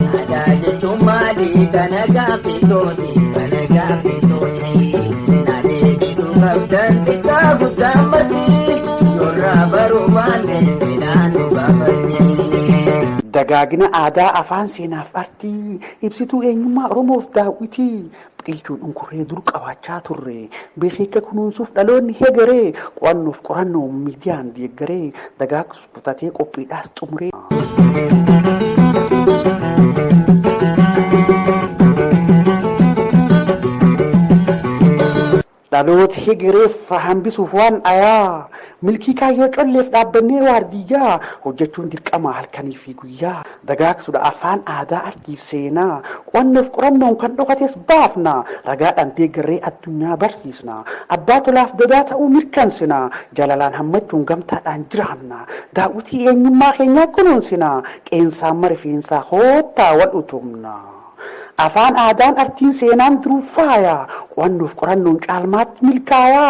Nagaa jechuun maali kana gaaffisooti kana gaaffisooti na deebisuu qabdan xiqqaa guddaa mati yorraa baruu baanne midhaan nu baafatti. Dagaagina aadaa afaan seenaaf artii, ibsituu eenyummaa Oromoof daawwitii, biqilchuun unkurree dur qabaachaa turre, beekeekka kunuunsuuf dhaloonni hegeree, qo'annoof qorannoon miidiyaan deeggaree, dagaagsuuf. Butatee qophiidhaas xumuree. Dhaloota hegereef faa hambisuuf waan ayaa milkii kaayyoo colleef dhaabbannee waardiyyaa hojjechuun dirqama halkanii fi guyyaa dagaagsudha. Afaan, aadaa, artiif seenaa, qo'annoof qorannoon kan dhokates baafna. Ragaadhaan deeggarree addunyaa barsiisna. Abbaa tolaaf gadaa ta'uu mirkansina. Jaalalaan hammachuun gamtaadhaan jiraanna. Daawwitii eenyummaa keenyaa kunuunsina. Qeensaan ma rifeensaa koottaa wal utubna. Afaan aadaan artiin seenaan jiruuf faaya Qo'annoof qorannoon caalmaatti milkaaya.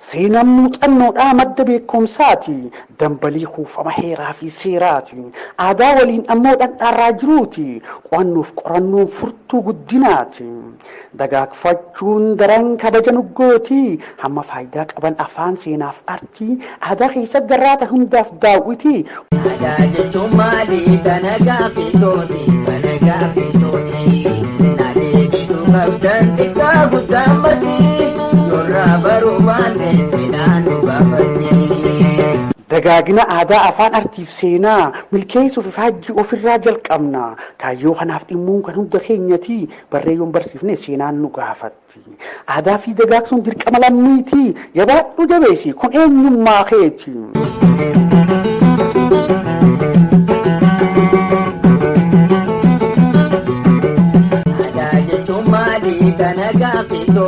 Seenaan muuxannoodhaa madda beekumsaati Dambalii kuufama heeraa fi seeraati Aadaa waliin ammoo dhandhaarraa jiruuti Qo'annoof qorannoon furtuu guddinaati. Dagaagfachuun daran kabaja nu gooti. Hamma faayidaa qaban afaan, seenaaf artii, aadaa keessatti garraata hundaaf daawwiti. Aadaa jechuun maali? Kana gaaffii tooti, kana gaaffii tooti. Na deebisuu qabdan xiqqaa guddaa mati. Yorraa baruu baanne seenaan nu gaafatti. Dagaagina aadaa, afaan, artiif seenaa milkeessuuf ifaajjii ofirraa jalqabna. Kaayyoo kanaaf dhimmuun kan hunda keenyati. Barree yoon barsiifne seenaan nu gaafatti. Aadaa fi dagaagsuun dirqama lammiiti. Jabaadhu jabeessi kun eenyummaa keeti. Aadaa jechuun maali kana gaaffii too.